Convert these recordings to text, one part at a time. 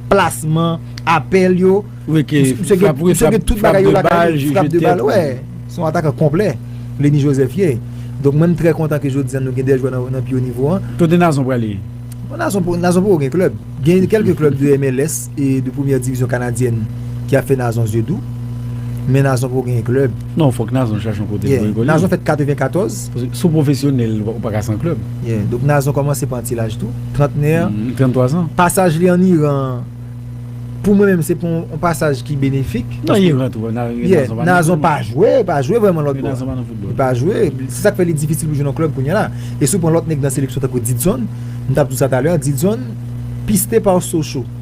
plasman, apèl yo, msye gen tout bagay yo lakay li, frap de bal, wè, son atakan konplè, Lenny Joseph ye. Donk mwen m trè kontan ke jodi an nou gen 2 jwè nan pi wo nivo an. Kote Nazon prale? Nazon poko gen klèb. Gen kèlke klèb de MLS e de premyè divizyon kanadyèn ki ap fè Nazon zye dou, men Nazon poko gen klèb. Non, fòk Nazon chache yon kote pou evolye. Nazon fèt 94. Si w pwofesyonèl, ou pa ka san klèb. Yeah. Donk Nazon kòmanse pran ti laj tou. Trantnè. 33 zan. Pasaj li ann Iran an, pou mwen menm se pa yon pasaj ki benefik. Nan Iran tou, Nazon pa nan foutbòl. Yeah. Nazon pa jwe, pa jwe vrèman lòt bò. Nazon pa nan foutbòl. Li pa jwe. Se sa k fè li difisil pou l jwe nan klèb kounye a la. E si w pran lòt nèg nan seleksyon tankou Didson, m t ap di w sa talè a, Didson, piste par Sochaux.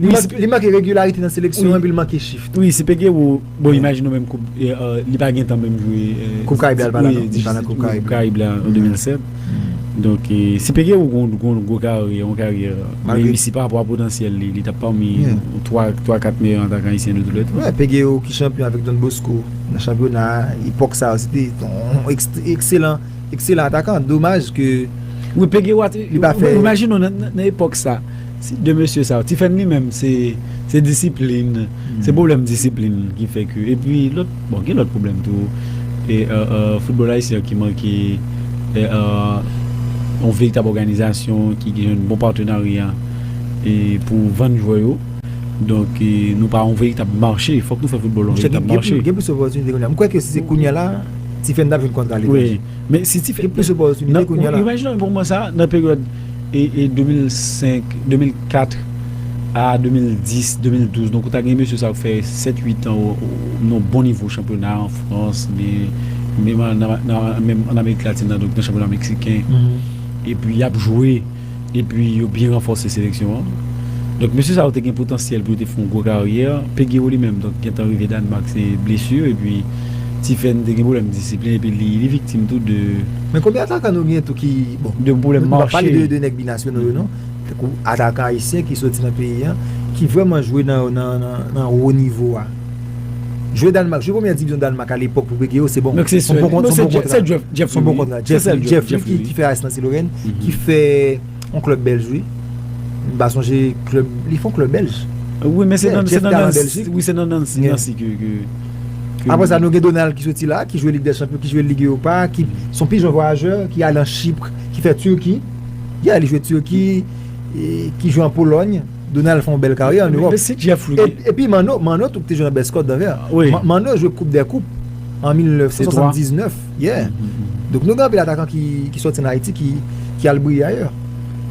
Li manke regularite nan seleksyon epi li manke chif tou. Wi se Peguero, bon imajine w menm koup li pa gentan menm jwe koup Karayib la, li pa nan koup Karayib la an 2007. Donk si Peguero gon gwo karyè, yon karyè reyisi pa rapò a potansyèl li, li tap pami 3, 4 meyè atakan ayisyen de tou lè tan. Peguero ki chanpyon avèk Don Bosco nan chanpyona a, epòk sa yo se te yon ekselan Ekselan atakan, domaj ke Wi Peguero te, li pa fè. Imajine w nan epòk sa, si 2 mesye sa yo, Ti Fèm li menm se disiplin, se pwoblèm disiplin ki fè ke epi lòt, bon gen lòt pwoblèm tou e foutbòl ayisyen an ki manke yon veritab òganizasyon ki gen yon bon patenarya e pou vann jwè yo donk nou pa yon veritab mache fòk nou fè foutbòl yon veritab mache. Gen plis opòtinite kounye a. M kwè ke si se kounye a la. Ti fè n tap jwenn kontra aletranje. Gen plis opòtinite kounya la. Imajine yon moman sa nan peryòd 2005, 2004 a 2010, 2012 donk ou ta gen mesye sa yo ki fè 7, 8 an nan bon nivo chanpyona an Frans oubyen menm an Amerik Latin nan donk nan chanpyona meksiken epi yap jwe. epi yo byen ranfòse seleksyon an. Donk mesye sa yo te gen potansyèl pou yo te fè yon gwo karyè. Peguero li menm donk gentan rive Danemark se blesu epi Tiffen te gen pwoblèm disiplin epi li li viktim tou de. Men konbyen atakan nou gen tou ki bon. De pwoblèm mache. Nou pa pale de nèg binasyonal yo non. Tankou atakan ayisyen ki soti nan peyi an ki vrèman jwe nan nan nan wo nivo a. Jwe Danemark, jwe premyè divizyon Danemark alepòk pou Brege yo se bon. Son bon kontra. Son bon kontra. Jeff Lee ki fè AS Nancy Lorraine, ki fè yon klub Belge wi. M pa sonje klub, li fè yon klub Belge. Wi men se nan Nancy ke ke. Apre sa nou gen Donald ki soti la, ki jwe Ligue des Champions, ki jwe Ligue Europa, ki son pi jèn vwayajè, ki al an Chypre, ki fè Turquie. Yeah, li jwe Turquie, ki jwe an Pologne. Donald fè yon bèl karyè an Ewòp. Mesi Jeff Louis. Epi Manno, Manno tou ki te jwe nan Best Cote d'Anvers. Wi. Manno jwe koup dè koup an 1979. Yeah. Donk nou gen anpil atakan ki sòti an Ayiti ki al briye ayè.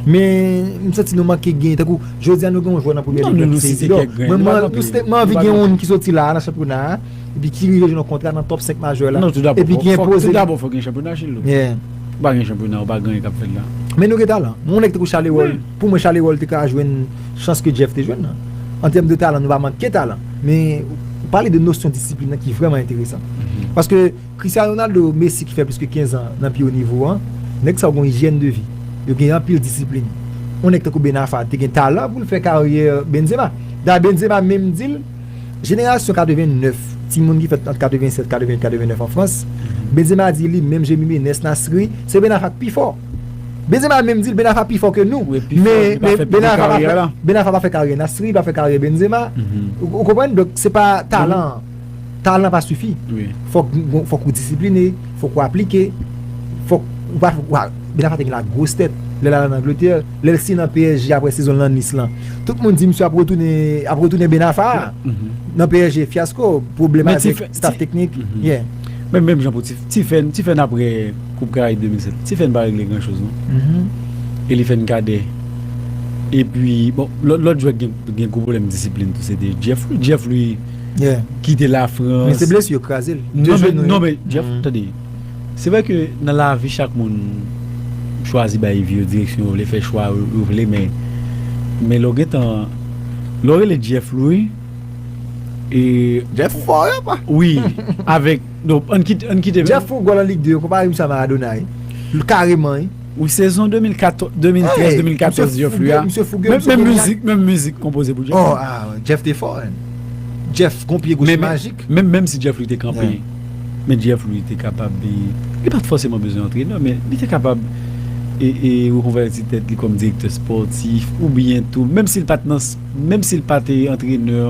Men m santi nou manke gen tankou jodi a nou gen yon jwè nan premyè lig la ki se Isidor. Mwen mwen anvi gen youn ki sòti la a nan chanpyona a epi ki rive jwenn yon kontra nan top 5 majè la epi ki enpoze. Tout dabò fòk gen chanpyona Gilles. Yeah. Si pa gen chanpyona ou pa gen anyen k ap fèt la. Men nou gen talan. Yon nèg tankou Charleroi. Pou mwen Charleroi te ka jwenn chans ke Jeff te jwenn nan. An tèm de talan nou pa manke talan. Men ou pale de nosyon disiplin nan ki vrèman enteresan. Paske Christiano Ronaldo, Messi ki fè plis ke 15 an nan pi wo nivo an, nèg sa yo gen yon ijyèn de vi. Yo gen anpil disiplin. Yon nèg tankou Ben Arfa te gen talan pou l fè karyè Benzema. Dayè Benzema menm di l, jenerasyon 89, timoun ki fèt ant 87, 88, 89 an Frans, Benzema di li menm Jemime, Nes Nasri, se Ben Arfa k pi fò. Benzema menm dil Ben Arfa pi fò ke nou men Ben Arfa pa fè karyè Nasri pa fè karyè Benzema ou konprann donk se pa talan an talan pa sifi fòk ou disipline fòk ou aplike fòk Ben Arfa te gen la gwos tèt lè l al an Angletè lè l siyen nan psg aprè sezon l an Nice lan tout moun di misye ap retounen Ben Arfa nan psg fyasko pwoblèmatik staf teknik menm jan pou ti fè n aprè. Koup karaib 2007 tifen pa regle gran choz non elifen kadè epi bon lòt jwè ki gen gwo pwoblèm disiplin tou se te jeff wi jeff li kite la frans men se blesu yo krazel non men jeff tande se vre ke nan lavi chak moun chwazi bay vi yo direksyon yo vle fè chwa yo vle men men lè w gentan lè w rele jeff louis e jeff fò wi avèk Donk ann kite ann kite. Jeff fon gòl an Ligue 2 yo konpare misye a Maradona wi. L kareman wi. Wi sezon 2014 2013 2014 Jeff li a menm mizik menm mizik konpoze pou Jeff. Oh ah Jeff te fò hein. Jeff gon pye goch majik. Menm menm si Jeff li te kanpe men Jeff li te kapab li li pat fòseman bezwen antrenè men li te kapab e e rekonvèti tèt li kòm direktè spòtif oubyen tou menm si l pat nan Menm si l pa te antrenè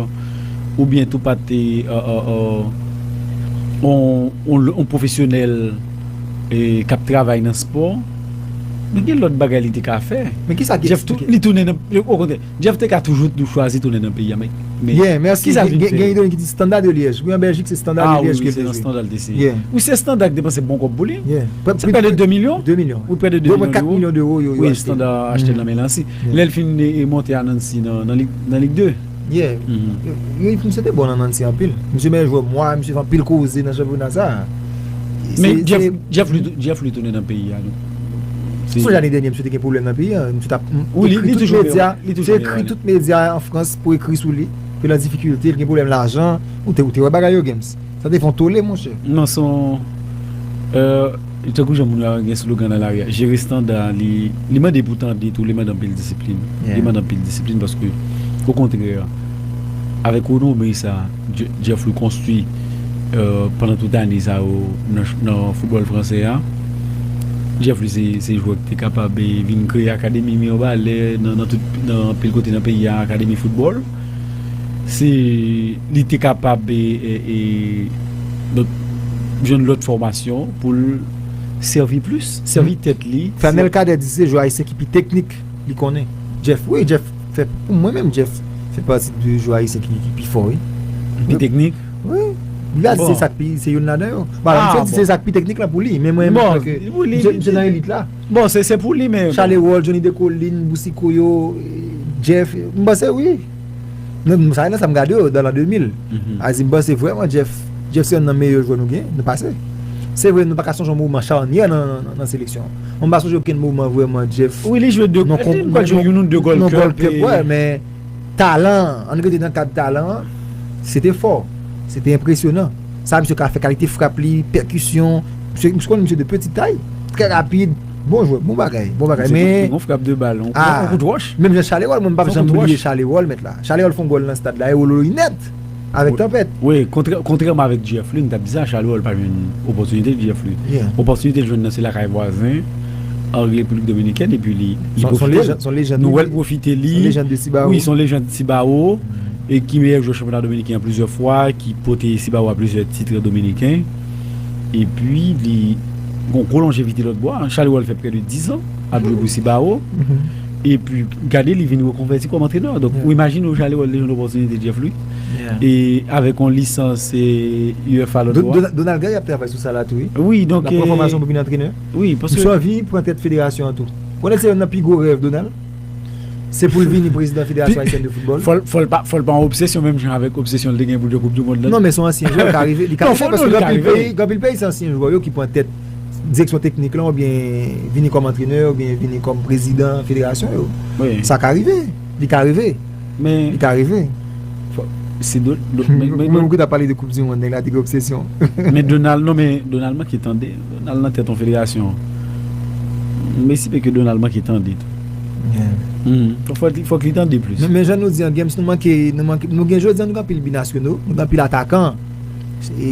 oubyen tou pa te yon pwofesyonèl k ap travay nan spò, men gen lòt bagay li te ka fè. Men kisa ki eksplike? Li tounen nan, okontrè, Jeff te ka toujou chwazi tounen nan peyi a, men kisa l vin fè? Gen yon ki di Standard de Liège. Wi an Bèljik se Standard de Liège ke l te jwe. A wi, se nan Standard l te siyen. Wi se Standard ki depanse bon kòb pou li. Se prè de 2 milyon. 2 milyon. Wi prè de 2 milyon dewo. Yo pran 4 milyon dewo yo achte l. Wi Standard achte l nan men Lancy. Lè l fin monte a Nancy nan Ligue 2. Yeah, misye te bon nan Nancy anpil. Misye meyè jwè mwa, misye fè anpil koze nan chanpyona sa a. Men Jeff Louis tounen nan peyi a non. Sonje lane dènyè misye te gen pwoblèm nan peyi a, misye t ap ekri tout medya, li te ekri tout medya an Frans pou ekri sou li, ke l an difikilte, l gen pwoblèm lajan, ou te wè bagay yo Genms. Sa te fon tole monche. Non son euh tankou jan moun yo gen slogan nan lari a jere standa li li mande pou tande tou li mande anpil disiplin li mande anpil disiplin paske okontrè avèk renomé sa Jeffry konstwi pandan tout ane sa yo nan foutbòl fransè a Jeffry se jwè ki te kapab vin kreye akademi mirebalè nan tout nan anpil kote nan peyi a akademi foutbòl. Si li te kapab jwenn lòt fòmasyon pou l sèvi plis, sèvi tèt li. Fernel Cadet di se jwè ayisyen ki pi teknik li konnen. Jeff, wi Jeff fè, pou mwen menm Jeff fè pati de jwè ayisyen ki pi fò wi. Ki pi teknik? Wi. Li a di se sa k pi, se youn ladan yo. Bon, misye di se sa k pi teknik la pou li, men mwen menm mwen kwè ke misye nan elit la. Bon se se pou li men. Chalewold Johnny Decoline Boucicaut yo Jeff m panse wi m sa nan sa m gade yo dan l'an 2000 Azim m panse vrèman Jeff Jeff se yonn nan meyè jwè nou gen nan pase se vre nou pa ka sonje yon moman charnyè nan seleksyon an mwen pa sonje okenn moman vrèman Jeff wi li jwe 2 m pa jwe youn ou 2 gòl klèb wè men. Talan an, an n rete nan kad talan an, se te fò, se te enpresyonan. Sa misye ka fè, kalite frap li, pèkisyon, misye, m konnen misye de peti tay, trè rapid, bon jwè, bon bagay, bon bagay men, Yon frap de bal, yon kout wòch. Menm jan Charleroi, mwen m pap janm bliye Charleroi mèt la. Charleroi fè yon gòl nan stad la, e wololoy nèt! Avèk tanpèt. Wi, kontrèman avèk Jeff Lu, m t ap di sa, Charles Roll pa jwenn opòtinite Jeff Lu. Opòtinite l jwenn nan se lakay vwazen an Repiblik Dominikèn epi li pwofite l. Nou wè l pwofite li. Wi, s on lejand Cibao e ki meyè jwè chanpyona dominiken an plizyè fwa, ki pote Cibao a plizyè titre dominiken. Epi li gen yon gwo lonjevite lòtbò a. Charles Roll fè prè de dizan ap jwe pou Cibao. Epi gade li vin rekonvèti kòm antrenè. Donk ou imajine ou Charleroi te jwenn opòtinite Jeff Louis e avèk yon lisans UEFA lòt bò a. Donald Guy ap travay sou sa la tou wi. Wi donk. Lap pran fòmasyon pou vin antrenè. Wi paske. Misye anvi pran tèt federasyon an tou. Ou konnen se yonn nan pi gwo rèv Donald? Se pou l vini prezidan federasyon ayisyèn de foutbòl. Fò l fò l pa fò l pa yon obsesyon menm jan avèk obsesyon l te gen pou l jwe koup dimond la. Non men son ansyen jwè ka rive li ka rive paske gen anpil peyi gen anpil peyi se ansyen jwè yo ki pran tèt direksyon teknik lan oubyen vini kòm antrenè oubyen vini kòm prezidan federasyon yo. Sa ka rive. Li ka rive. Li ka rive. Se do. Mwen mwen ki ta pale de koup di moun nèg la te gen obsesyon. Men Donald non men Donald manke tande. Donald nan tèt yon federasyon. M esipe ke Donald manke tande tou. Fòk li tande plis. Men jan nou di an Gems nou manke nou gen jodi an nou gen anpil binasyono, nou gen anpil atakan.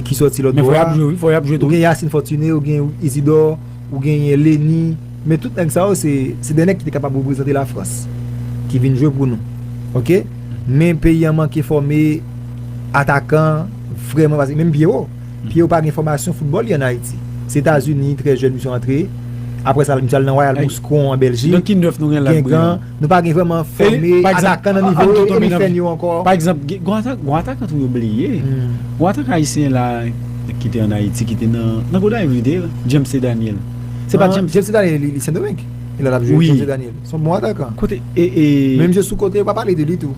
ki sòti lòt bò a, ou gen Yacine Fortuné, ou gen Isidore, ou genyen Lenny, men tout nèg sa yo se dè nèg ki te kapab reprezante Lafrans, ki vin jwe pou nou. Ok, men peyi an manke fòme atakan vrèman, paske menm Pierrot, Pierrot pa gen fòmasyon foutbòl li an Ayiti. Se Etazini, trè jèn misye antre, aprè sa misye al nan Royal Moscou an Bèljik, Guingamp. Nou pa gen vreman fòme atakan nan nivo yo, e li fè nou ankò. Pa egzanp, gwo atakan tou yo bliye. Gwo atakan ayisyen la, ki te an Ayiti, ki te nan Gonayiv li te ye la, James T. Daniel. Se pa James. James T. Daniel li Sendomeng. Li la ap jwe James T. Daniel. Son bon atakan. Kote e e. Menm jwe sou kote yo pa pale de li tou.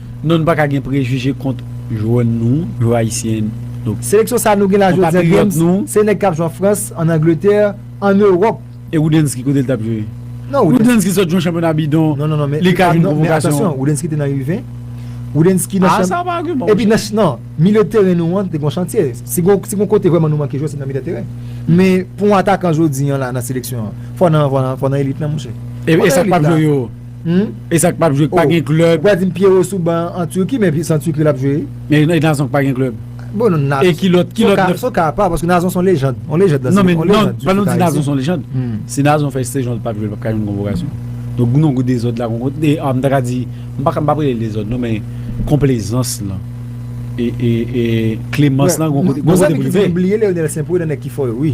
Non nou paka gen prejije kont jwè nou yo ayisyen nou. Seleksyon sa nou gen la jodi an James se nèg kap jwe an Frans, an Angletè, an Ewòp. E Roudensky kote l tap jwe? Roudensky sot jwen chanpyona bidon li ka jwen konvokasyon. Non non men atansyon Roudensky te nan U20, Roudensky nan chanpyona. A sa pa agiman monchè. Epi nan milye teren nou an te gon chantye. Si gon kote vrèman nou manke jwè se nan milye teren. Men pou yon atakan jodi an la nan seleksyon an fò nan elit lan monchè. E sak pap jwe yo? Humm. E sak pap jwe k pa gen club. Ou pa dim pierrot sou ban an Turquie men se an Turquie lap jwe. E nazon k pa gen club. Bon non nazon. E kilòt kilòt nan. Son ka apa paske nazon son lejand. On lejand nan se on lejand. Non men non pa nou di nazon son lejand. Si nazon fè sezonl pap jwe l pap ka jwenn konvokasyon. Donk gou non gou dezòd la gon de m ta ka di m pa pap relel dezòd non men konplezans lan e e e klemans lan gon kote pou li rive. Gon zanmi ki di m bliye Leonel St-Preux nan nèg ki fò yo wi.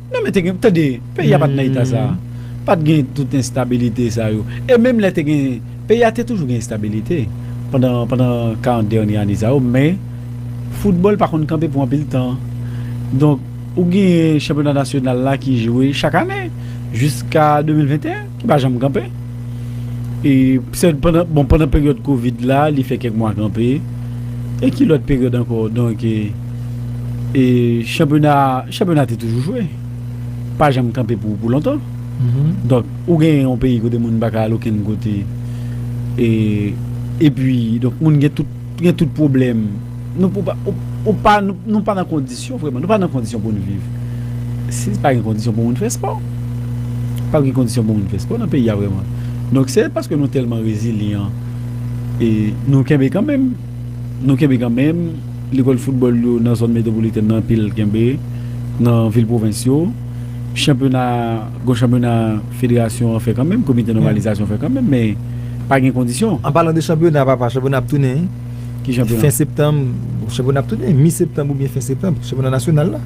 Non men te gen, tande, peyi a pa t nan eta sa a. Pa t gen tout enstabilite sa yo. E menm lè te gen, peyi a te toujou gen enstabilite pandan, pandan karant dènye ane sa yo men foutbòl pa konn kanpe pou anpil tan. Donk ou genyen chanpyona nasyonal la ki jwe chak ane jiska 2021. Li pa janm kanpe. E sèl pandan, bon pandan peryòd kovid la li fè kèk mwa kanpe. E ki lòt peryòd ankò? Donk e e chanpyona a, chanpyona a te toujou jwe. Pa janm kanpe pou pou lontan. Donk ou gen yon peyi kote moun pa ka al okenn kote e epi donk moun gen tout gen tout pwoblèm. Nou pou pa ou pa nou pa nan kondi. kondisyon vreman nou pa nan kondisyon poun viv si pa gen kondisyon pou moun fè spò pap gen kondisyon pou moun fè spò nan peyi a vreman donk se paske nou tèlman rezilyan e nou kenbe kanmenm nou kenbe kanmenm lekòl foutbòl yo nan zòn metwopolitèn nan anpil kenbe nan vil pwovens yo chanpyona gon chanpyona federasyon an fè kanmenm komite nòmalizasyon fè kanmenm men pa gen kondisyon. An palan de chanpyona papa chanpyona ap tounen. Ki chanpyona? Fen septanm, bon chanpyona ap tou gen, mi septanm oubyen fen septanm, chanpyona nasyonal la.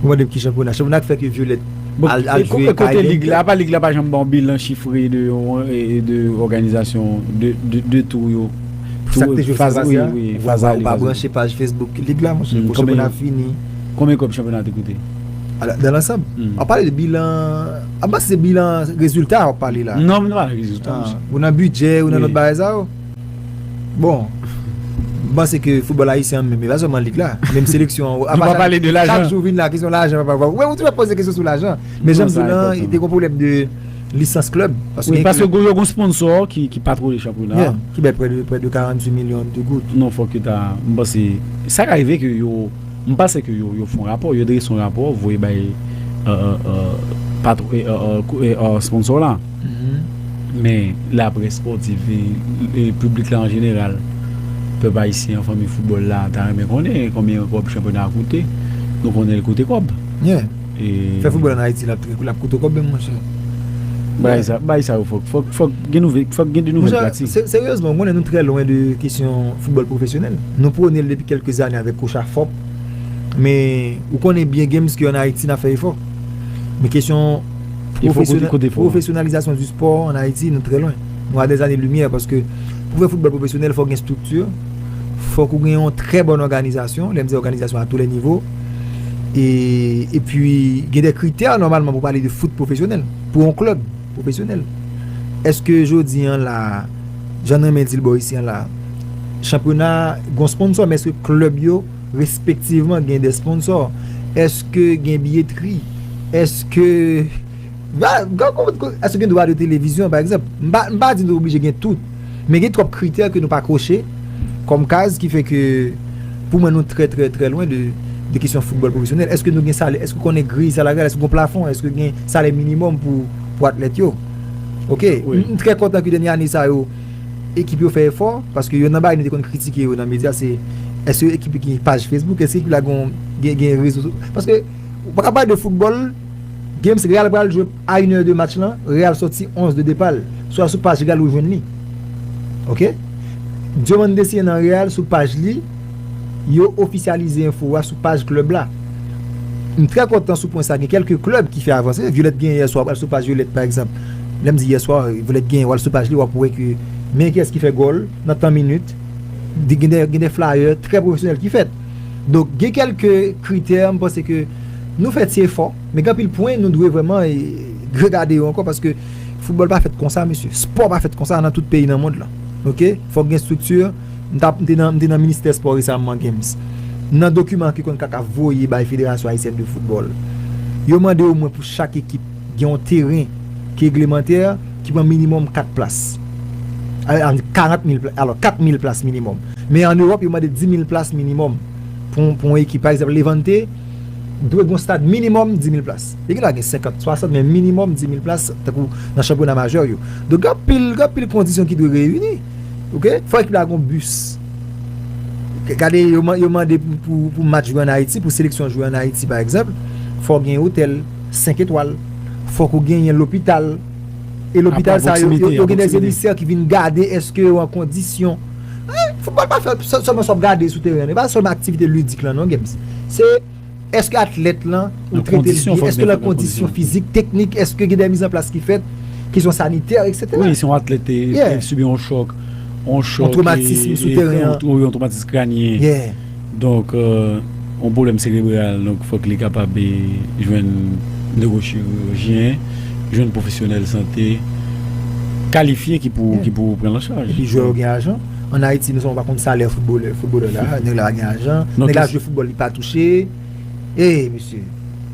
Ou mande m ki chanpyona, chanpyona k fè ke Violette al jwe K-League. Bon, kote lig la, apa lig la pa janm ban w bilan chifre de yon, de òganizasyon, de tou yo? Pou sa k te jwe faz ale a? Wi, faz ale. Ou pa branche paj Facebook lig la monchè, pou chanpyona fini. Konbyen kòb chanpyona te koute? Ala, dan lansanm? Ou ap pale de bilan, apa se bilan rezilta ou ap pale la? Non, m nan pale rezilta monchè. Ou nan bidjè, ou nan lòt bagay sa yo? Bon, m panse ke foutbòl ayisyen an menm, e pa sèlman lig la, menm seleksyon an, Nou pa pale de lajan. chak jou vin la kesyon lajan, wè ou toujou ap poze kesyon sou lajan, men jan m di w lan, te gen yon pwoblèm de lisans klèb, paske gen klèb Paske yo gen yon sponsò ki patwone chanpyona a, ki bay prè de 48 milyon de goud. Non fòk yo ta, m panse, sa ka rive ke yo. M panse ke yo yo fon rapò, yo drese yon rapò voye bay sponsor la. Men laprès spòtif e piblik la an jeneral, pèp ayisyen an, fanmi foutbòl la ta renmen konnen konbyen kòb chanpyona a koute. Nou konnen li koute kòb. Fè football an Haiti lap trè lap koute w kòb menm monchè. Bagay sa, bagay sa yo fòk, fòk, fòk gen nouvè, fòk gen de nouvèl pratike. Monchè, seryezman, ou konnen nou trè lwen de kesyon football pwofesyonèl. Nou pwone l depi kèlke zane avèk coach a fòp. Men, ou konnen byen games ke an Haiti nap fè efò. Men kesyon pwofesyonalizasyon di spò an Haiti nou trè lwen. Nou a dè zane limyè paske pou fè football pwofesyonèl fòk gen struktur, fòk ou gen yon trè bòn òganizasyon, lè m di òganizasyon a tou lè nivo. E pwi gen de kritè nòmalman pou pale de fout pwofesyonèl, pou yon klèb pwofesyonèl. Eske jodi an la, jan nan men di l bò isi an la, chanpyona gon sponsò, men eske klèb yo respektivman gen de sponsò? Eske gen biyetri? Eske... Èske gen dwa de televizyon pa egzanp? M pa di nou oblije gen tout, men gen twòp kritè ke nou pa koche kòm kaz ki fè ke pou mwen nou trè trè trè lwen de kesyon foutbòl pwofesyonèl. Èske nou gen salè? Èske ou konnen griy salaryal? Èske gen yon plafon? Èske gen salè minimòm pou atlèt yo? Ok, m trè kontan ke dènye ane sa yo ekip yo fè efò, paske yonn nan bagay nou te konn kritike yo nan medya se èske ekip yo gen paj Facebook? Èske ekip la gen rezo? Paske ou pa ka pale de foutbòl. Games Real pral jwe a une heure de match lan Real sòti 11 de depa l swa sou paj Real ou jwenn li ok Diomande siyen nan Real sou paj li yo ofisyalize enfo a sou paj club la m trè kontan sou pwen sa gen kèlke club ki fè avanse Violette genyen yè swa al sou paj Violette pa egzanp lè m di yè swa Violette genyen wal sou paj li wap wè ke men kiyès ki fè gòl nan tan minit gen de flyer trè pwofesyonèl ki fèt. Donk gen kèlke kritè m panse ke nou fè ti efò men gen anpil pwen nou dwe vrèman regade yo ankò paske foutbòl pa fèt konsa mesye, spò pa fèt konsa nan tout peyi nan mond lan ok fòk gen estrikti m ta m te nan ministè espò resamman gen nan dokiman ke konnkakaf voye bay federasyon ayisyèn de foutbòl yo mande omwen pou chak ekip. Gen yon teren ki eglemante ki pran minimòm 4 plas. Alò, an di 40 mil plas, alò 4 mil plas minimòm. Men an Ewòp yo mande 10 mil plas minimòm pou yon pou yon ekip. Pa egzanp Levante dwe gen yon stad minimòm 10 mil plas. Li gen dwa gen 50, 60 men minimòm 10 mil plas tankou nan chanpyona majè yo. Donk gen anpil, gen anpil kondisyon ki dwe reyini. Ok, fò ekip la gen yon bis. Gade yo mande pou match jwe an Ayiti, pou seleksyon jwe an Ayiti pa egzanp, fò gen otèl. 5 etwal, fòk ou genyen lopital, e lopital sa yo, yo gen dè emisè ki vin gade eske yo an kondisyon. Foutbòl pa fèt sèlman sa w ap gade sou teren, e pa sèlman aktivite lidik lan non Gems. Se eske atlèt lan ou trete l byen, eske l an kondisyon fizik, teknik, eske gen dè mizanplas ki fèt, kesyon sanitè, eksetera. Wi, si yon atlèt te sibi yon chòk, yon chòk, yon twomatism sou teren an, yon twomatism kranyen. Donk yon pwoblèm serebral donk fòk li kapab jwenn newochirijyen, jwenn pwofesyonèl sante kalifye ki pou pran l an chaj. Epi jwè yo gen ajan. An Ayiti nou sèlman pa konn salè foutbolè. Foutbolè la, nèg la pa gen ajan. Nèg la jwe foutbòl li pa touche. Hey mesye!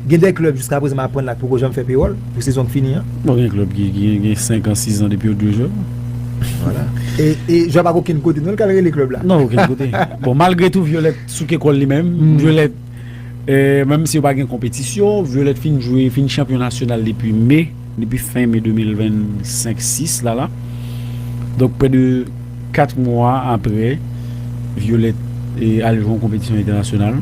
Gen de klèb jiska prezan m aprann la k poko janm fè pewòl pou sezon k fini an. Bon gen klèb ki gen 5 an, 6 an depi yo t dwe jwè. Vwala. E jwè pa k okenn kote non l k al rele klèb la. Non okenn kote. Bon malgre tou Vyolèt souke kò l li menm. Vyolèt menm si yo pa gen konpetisyon, Vyolèt fin jwe, fin chanpyon nasyonal depi Me. depi fen me 2025 6 la la donk prè de 4 mwa aprè Violette al jwe yon konpetisyon entènasyonal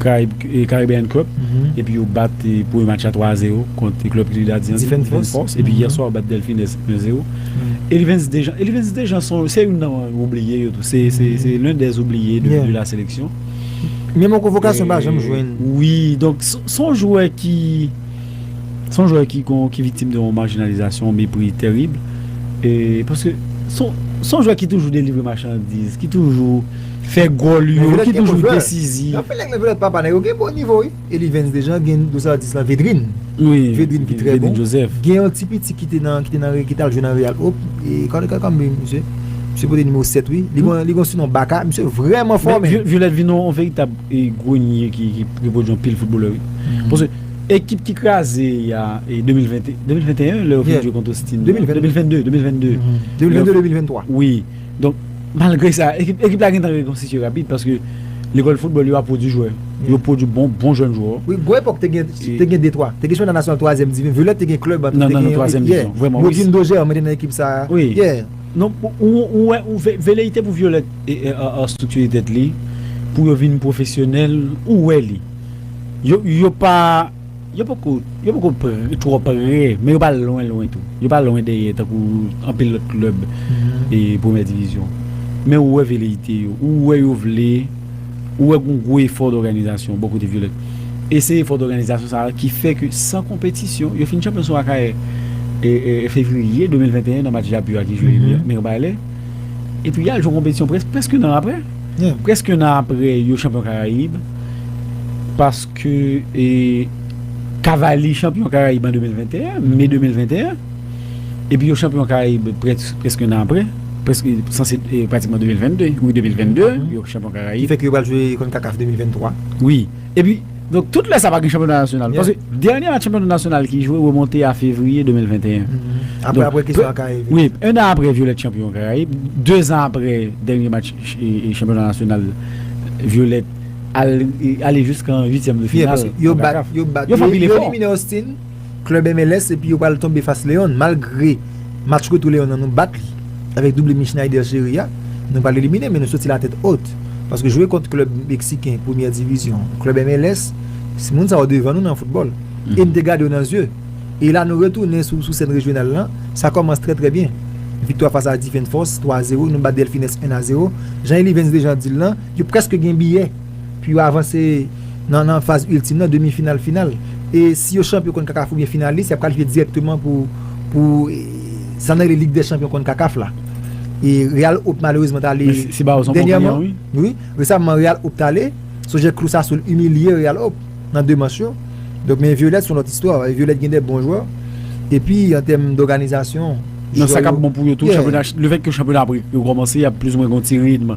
Caribbean Cup epi yo bat premye match la 3 a 0 kont klèb Trinidad yan Defense Force epi yè swa yo bat Delfines 1 0 Elivens Dejean Elivens Dejean se youn nan oubliye yo tou se l'un des oubliye de la seleksyon. Men mwen konvokasyon pa janm jwenn. Wi, donk se yon jwè ki, se yon jwè ki gon, ki viktim de yon marginalisation, yon mepri terib, e paske se yon jwè ki toujou delivre machandiz, ki toujou fè gòl yo, ki toujou desizif. Anpil nèg nan Viyolèt papa nèg yo gen bon nivo wi. Elivens Dejan gen dous atis la Vedrine Vedrine ki trè bon gen yon ti piti ki te nan ki t al jwe nan Real op kòlè kòlè kòmbe misye misye pote nimewo 7 wi li gen yon sinon Baka misye vrèman fò men Violette vin yon veritab grenier ki repwodui anpil foutbolè wi paske ekip ki kraze y a 2020 2021 lè yo vin jwe kont Austin 2022 2022 2022 2023 wi. Donk, malgre sa, ekip la gentan rekonstitye rapid paske lekòl foutbòl yo ap pwodui jwè. Yo pwodui bon jèn jwè. Wi, gwo epòk te gen detwa. Te gen jwè nan nasyonal twazyèm divi. Violet te gen klèb an tou. Nan twazyèm divi. Vrèman. Modin Dojè an mwen te nan ekip sa a. Wi. Yè. Non, ou wè, veleyite pou Violet estriktire tèt li pou yo vin pwofesyonèl, ou wè li. Yo pa. Yo poko yo poko twò pre, men yo pa lwen lwen tou. Yo pa lwen dèyè tankou anpil lòt klèb premyè divizyon. Men ou wè veleyite yo, ou wè yo vle, ou wè gon gwo efò dòganizasyon bò kote Vyolèt. E se efò dòganizasyon sa a ki fè ke san konpetisyon, yo fin chanpyon sou Akayè fevriye 2021 nan match Japu a ki jwe Mirbalè. Epi y al jwe konpetisyon prèske yon an aprè. Prèske yon an aprè yo chanpyon Karayib. Pas. Ke Cavaliers chanpyon Karayib an 2021, Me 2021, epi yo chanpyon Karayib prèske nan apre, prèske sanse pratikman 2022, wi 2022 yo chanpyon Karayib. Ki fè ke yo pral jwe Concacaf 2023. Wi, epi donk tout lè sa pa gen chanpyona nasyonal. Paske dènye match chanpyona nasyonal ki jwe remonte a Fevriye 2021. Apre apre ke sa Karayib. Wi, ennan apre Violette chanpyon Karayib, dezan apre dènye match chanpyona nasyonal Violette. al ale jiskan uityèm de final yo bat yo bat yo elimine Austin club MLS epi yo pral tonbe fas León malgre match retou León nan nou bat li avèk double mi Schneider Chery a nou pral elimine men nou soti la tèt ot paske jwe kont club meksiken premyè divizyon club MLS se moun sa yo devan nou nan football e nou te gade yo nan zye e la nou retounen sou sèn rejyonal lan sa kòmanc trè trè byen viktwa fas a Difenfòs 3 a 0 nou bat Delfines 1 a 0 jan Elivens Dejean di l lan. Yo prèske gen biyè pou yo avanse nan faz iltim nan, demi final, final. E si yo chanpyon Concacaf oubyen finalis, y ap kalifye dirèkteman pou sa nou rele Lig dè Chanpyon Concacaf la. E Real Hope malerezman t ale dènyèman, wi, resamman Real Hope t ale, sonje Cruz Azul imilye Real Hope nan 2 manch yo. Donk men Violette s on lòt istwa, Violette gen de bon jwè. Epi an tèm dòganizasyon, jwè yo, yè. Sa k ap bon pou yo tou, chanpyona, lefètke chanpyona ap rekòmanse, y ap plizoumwen gen yon ti ritm.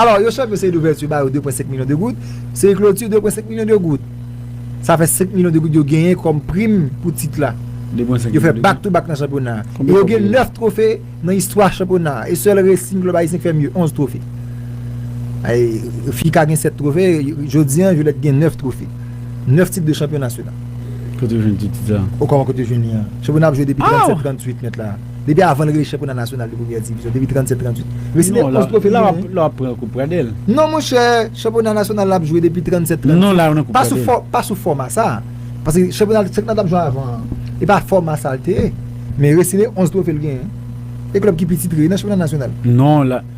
Alò, yo chòt yo seri douvèti ba yo 2 pwen 5 milyon de goud, seri kloti 2 pwen 5 milyon de goud. Sa fè 5 milyon de goud yo genyen kòm prim pou tit la. Yo fè bak tou bak nan chanpyona a. E yo gen 9 twofe nan istwa chanpyona a. E sèl Racing klèb ayisyen ki fè mye, 11 twofe. Fica gen 7 twofe, jodi an Violette gen 9 twofe. 9 tit de chanpyon nasyonal. Kote yo jwenn tout tit sa? O kòman kote yo jwenn li an? Chanpyona a ap jwe depi 37, 38 mèt la. Depi avan l rive chanpyona nasyonal de premyè divizyon, depi 37, 38, li siyen 11 twofe li genyen. Non, la w ap pran koup Pradèl. Non monchè, chanpyona nasyonal l ap jwe depi 37, 38. Non, la w nan koup Pradèl. Pa sou fòma sa a. Paske chanpyona l t ap jwe avan an, e pa fòma sa a l te ye. Men Racing 11 twofe l genyen. E klèb ki pi titre nan chanpyona nasyonal. Non, la.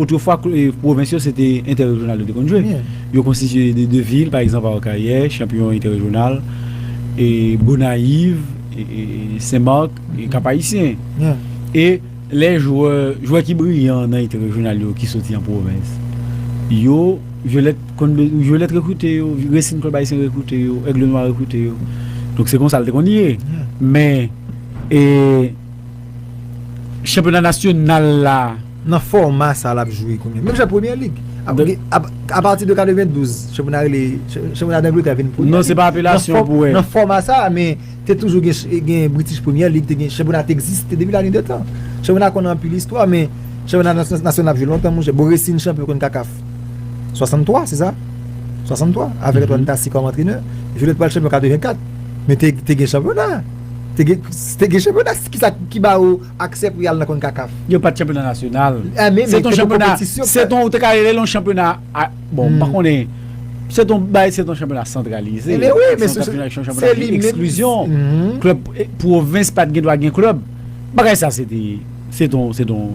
Otrefwa pwovens yo se te entèrejyonal yo te konn jwe. Yo konstitiye de 2 vil, pa egzanp Akayè, chanpiyon entèrejyonal, e Gonayiv, Sen Mak, Kap Ayisyen. E lè jwè, jwè ki briyan nan entèrejyonal yo ki soti an pwovens, yo Vyolèt konn be, Vyolèt rekrite yo, Resin Klèb Ayisyen rekrite yo, Ègle Nwa rekrite yo. Donk se konsa l te konn ye. Men e chanpyona nasyonal la. Nan fòma sa l ap jwe kounye a, menm jan ak Premyè Lig, apati de 92, chanpyona rele, chanpyona Dangletè vin Premyè Lig. Non se pa apelasyon pou wè. Nan fòma sa, men te toujou gen British Premier League, te gen, chanpyona te egziste depi la nuit de tan. Chanpyona konn anpil istwa men chanpyona nasyonal ap jwe lontan monchè. Boresine chanpyon konn CACAF 63, se sa? 63, avèk Antoine Tassy kòm antrenè. Violet pral chanpyon 84, men te gen chanpyona. Te gen chanpyona, ki sa ki ba ou. Aksè pou y al nan Concacaf. Yo pa t chanpyona nasyonal. A men, se te yon konpetisyon. Se ton ou te ka rele l yon chanpyona, bon, m pa konnen. Se ton bay, se ton chanpyona santralize. E men wi, men se yon chanpyona ki eksklizyon. Klèb pwovens pa t gen dwa gen klèb. Bagay sa se te, se ton, se ton,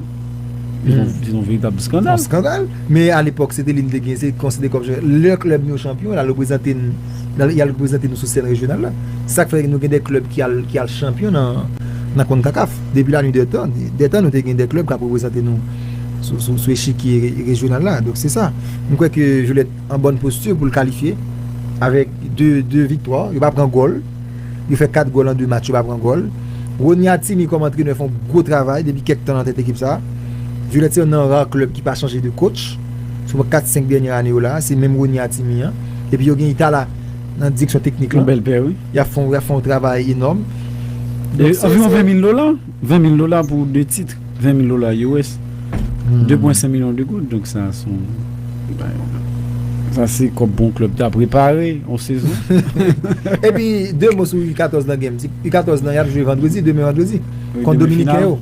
se ton veritab skandal. Skandal. Men alepòk se te li m te gen, se konsidere kòm, lè klèb nou chanpyon, l al reprezante n. y al reprezante nou sou sèn rejyonal la. Se sa k fè nou gen de klèb ki al ki al chanpyon nan Concacaf. Depi la nuit dè tan, dè tan nou te gen de klèb k ap reprezante nou sou sou sou echikye rejyonal la. Donk se sa. M kwè ke Joliette an bòn posti pou l kalifye avèk de de viktwa. Yo pa pran gòl. Yo fè 4 gòl an de match yo pa pran gòl. Rony Atimi kòm antrenè fè yon gwo travay depi kèk tan nan tèt ekip sa a. Joliette se yon nan ra klèb ki pa chanje de kotch. Sou 4, 5 dènyè ane yo la a, se menm Rony Atimi an. Epi yo gen tala nan direksyon teknik lan. Y ap fè yon travay enòm. Anviwon 20 mil dola. 20 mil dola pou 2 tit. 20 mil dola US. 2 pwen 5 milyon de goud. Donk sa son bay. Sa se kòb pou yon klèb ta prepare yon sezon. Epi 2 mo sou U14 nan genm. U14 nan y ap jwe vandredi. Demen vandredi. Kont Dominiken yo.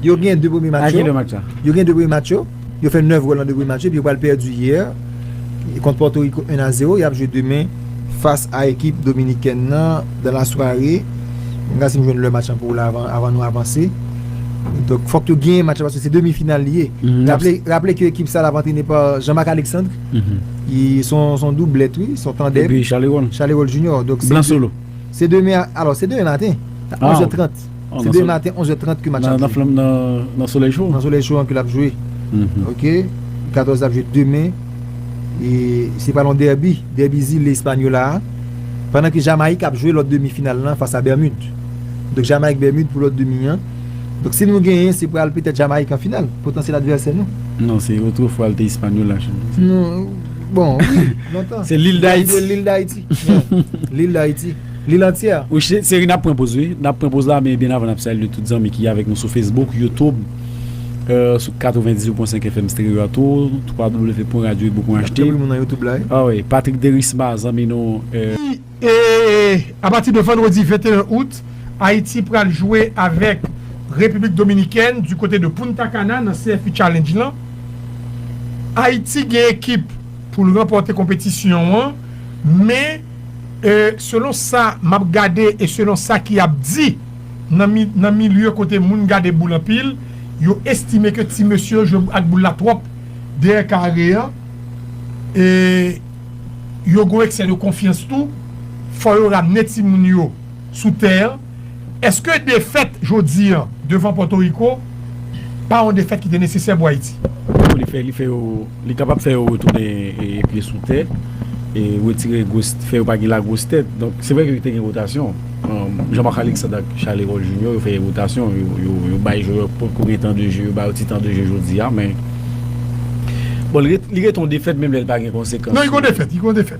Yo gen 2 premye match yo. A ki lè match la? Yo gen 2 premye match yo. Yo fè 9 gòl nan 2 premye match yo epi yo pral pèdi yè kont Pòtoriko 1 a 0. Y ap jwe demen fas a ekip dominikèn nan dans la soirée. An n gad si m jwenn lè match lan pou w la avan nou avanse. Donk fòk yo genyen match lan paske se demi final li ye. Raple ke ekip sa l ap antrene pa Jean Marc Alexandre ki se yon doublèt wi, se yon tandèm. Epi Charlerol. Charlerol Junior. Blan Solo. Se demen, alò se demen maten a 11 è 30. Se de maten 11 è 30 ke match ap jwe. Nan solèy cho? Nan solèy cho an ke lap jwe. Ok, 14 ap jwe demen. E se pral yon derby, derby zile Hispaniola a. Pandan ke Jamayik ap jwe lòt demi final lan fas a Bèmid. Donk Jamayik Bèmid pou lòt demi an. Donk si nou genyen se pral petèt Jamayik an final, potansyèl advèsè nou. Non, se otrefwa li te Hispaniola cho. Non, bon wi, lontan. Se Lil Dayiti. Lil Dayiti. Lil Dayiti. Li lan tiè. Wi cheri nap pran poz wi. Nap pran poz la men byen avan nap salye tout zanmi ki avèk nou sou Facebook, YouTube, sou 98 pwen 5 FM Stereo a tou www pwen radioibo pwen ht ah wi Patrick Derisma zanmi nou. Apati de vandredi 21 out, Ayiti pral jwe avèk Repiblik Dominikèn di kote de Punta Cana nan CFI Challenge lan. Ayiti gen ekip pou l ranpòte konpetisyon an men E selon sa map gade e selon sa ki ap di nan milye kote moun gade boul anpil yo estime ke ti mesye yo jwe ak boul la twòp dèyè kare an e yo gon eksè de konfyans tou fò yo ramne timoun yo sou tè an. Eske defèt jodi an devan Pòtoriko pa yon defèt ki te nesesè pou Ayiti? Pou li fè, li fè yo, li kapab fè yo retounen pye sou tè, retire gwos, fè yo pa gen lagwos tèt. Donk, se vre ke te gen wotasyon. Jean-Marc Alexandre ak Charles Hérol Junior yo fè yon wotasyon, yo bay jwè ki potko gen tan de je, yo ba yo ti tan de je jodi a, men, bon, li ret yon defèt menm lè li pa gen konsekans. Non, li gon defèt, li gon defèt.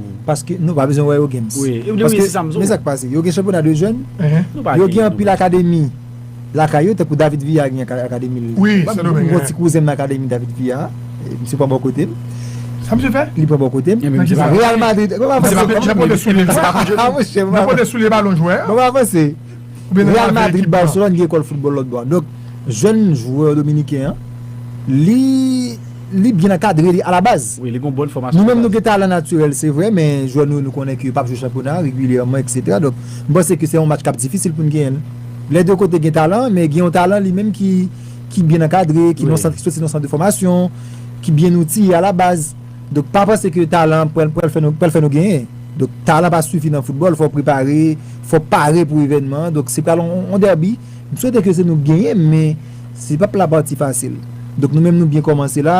paske nou pa bezwen wè yo games paske men sak pase yo gen chanpyona de jèn yo gen anpil akademi lakay yo tankou David Villa gen akademi l mwen gon ti kouzen m nan akademi David Villa misye pran bò kote m li pran bò kote m Real Madrid banm avanse banm avanse Real Madrid Barcelone gen ekòl foutbòl lòt bò a donk jèn jwè dominiken an li byen ankadre li alabaz nou menm nou gen talan natirèl se vre men jwè nou yo nou konnen ke yo pap jwe chanpyona regilyèman eksetera donk m panse ke se yon match kap difisil pou n genyen lè 2 kote gen talan men gen yon talan li menm ki byen ankadre ki soti nan sant de fòmasyon ki byen outiye alabaz. Donk pa panse ke talan pral pral fè nou pral fè nou genyen. Donk talan pa sifi nan foutbòl fò prepare, fò pare pou evènman an. Donk se pral yon dèbi. M swete ke se nou k genyen men se pap la pati fasil. Donk nou menm nou byen kòmanse la.